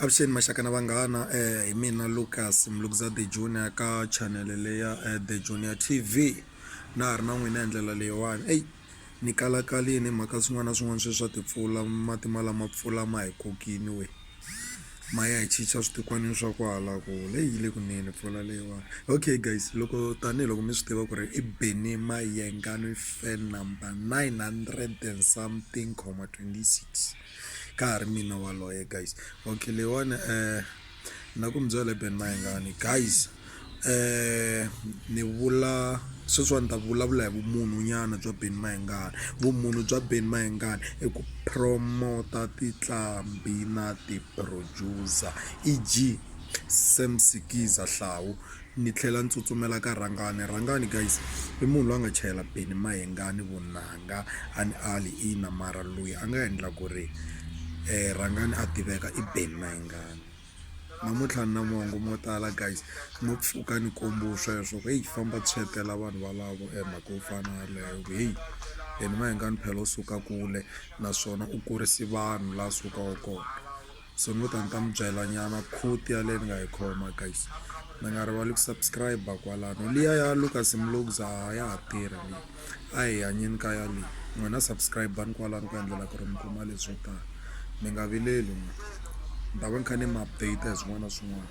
Avuxeni maxaka na vanghana hi mina Lukas Mlungza The Junior ka chanele leyi ya The Junior T_V na ha ri na n'wina hi ndlela leyiwani eyi ni kalakarile hi mhaka swin'wana na swin'wana sweswi swa timpfula mati ma lama mpfula ma hi kokini wee ma ya hi chicha switikwana swa kwala kule yi le kunene mpfula leyiwani okay guys loko tanihiloko mi swi tiva ku ri i Benny Mayengani fan number nine hundred and something comma twenty six. ka ha ri mina waloye guys okay leyiwani um na ku mi byela ben mayengani guys um ni vula sweswiwani ni ta vulavula hi vumunhu nyana bya ben mayengani vumunhu bya ben mayengani i ku promota titlambi na ti-producer e_g sam sikiza hlawu. Ni tlhela ni tsutsumela ka Rhangani. Rhangani guys i munhu loyi a nga chayela Benny Mayengani vunanga a ni ali ina mara loyi a nga endla ku ri Rhangani a tiveka i Benny Mayengani namuntlha ni na mongo mo tala guys no pfuka ni kombiwe sweswo ku heyi famba tshetela vanhu valavo e mhaka yo fana na yeleyo ku heyi Benny Mayengani phela u suka kule naswona u kurise vanhu laha a sukaka kona. So ni ngo ta ni ta mi byela nyana quote yaleyo ni nga yi khoma guys mi nga rivali ku subscribe kwalano liya ya Lucas Mlugza a ya ha tirhi leyi a hi hanyeni ka ya leyi n'wina subscribe-ani kwalano ku endlela ku ri mi kuma leswo tala mi nga vileli n'wina ni ta va ni kha ni mi update hi swin'wana na swin'wana